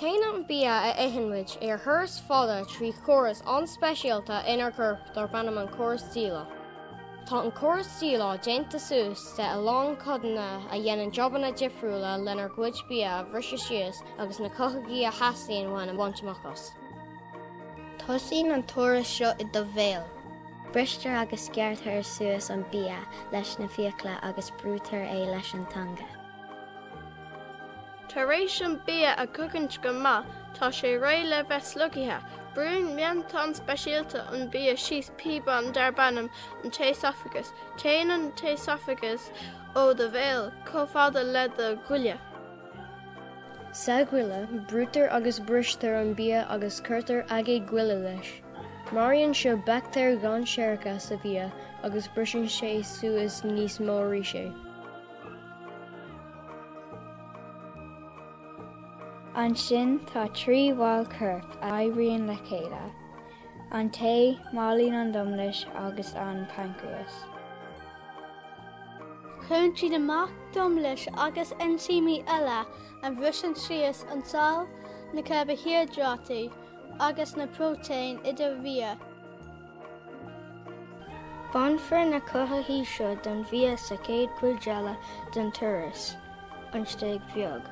Téann an bia a itheann muid ar thuras fada trí chóras an-speisialta inár gcorp darb ainm an córas díleá. Tá an córas díleá déanta suas de a lán codanna a dhéanann jobanna difriúla lenár gcuid bia a bhriseadh síos agus na cothaithigh a theastaíonn uainn a bhaint amach as. Tosaíonn an turas seo i do bhéal. Bristear agus gearrtar suas an bia leis na fiacla agus brúitear é leis an teanga. Tar éis an bia a chogaint go maith tá sé réidh le bheith slogtha. Brúnn matán speisialta an bia síos píobán darb ainm an t-éasafagas. Téann an t-éasafagas ó do bhéal chomh fada le do ghoile. Sa ghoile, brúitear agus bristear an bia agus cuirtear aigéad goile leis. Maraíonn seo baictéir dhainséaracha sa bhia agus briseann sé suas níos mó arís é. Ansin tá trí bhall coirp a oibríonn le chéile, an t-ae, máilín an domlais agus an paincréas. Cuireann siad amach domlas agus einsímí eile a bhriseann síos an saill, na carbaihiodráití agus na próitéin i do bhia. Bainfear na cothaithigh seo den bhia sa chéad chuid eile den turas, an stéig bheag.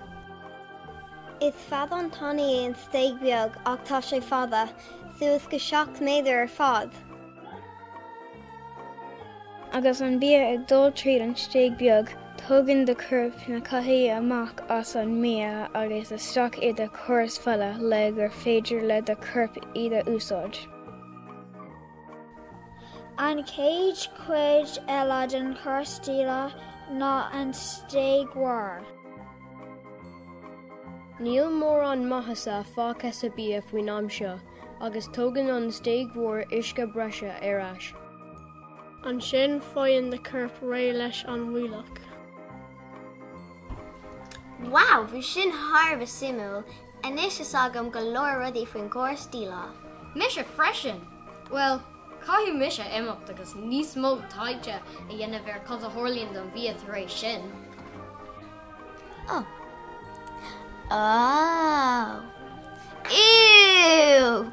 Is feadán tanaí é an stéig bheag ach tá sé fada, suas go seacht méadar ar fad. Agus an bia ag dul tríd an stéig beag, tógann do chorp na cothaithigh amach as an mbia agus isteach i do chóras fola le gur féidir le do chorp iad a úsáid. An chéad chuid eile den chóras díleá ná an stéig mhór. Níl mórán maitheasa fágtha sa bia faoin am seo agus tógann an stéig mhór uisce breise ar ais. Ansin faigheann do chorp réidh leis an bhfuílleach. Wow, bhí sin thar a bheith suimiúil! Anois tuigim go leor rudaí faoin gcóras díleá. Mise freisin! Bhuel, caithfidh mise imeacht agus níos mó taighde a dhéanamh ar cad a tharlaíonn don bhia tar éis sin. Oh. Oh. Ew!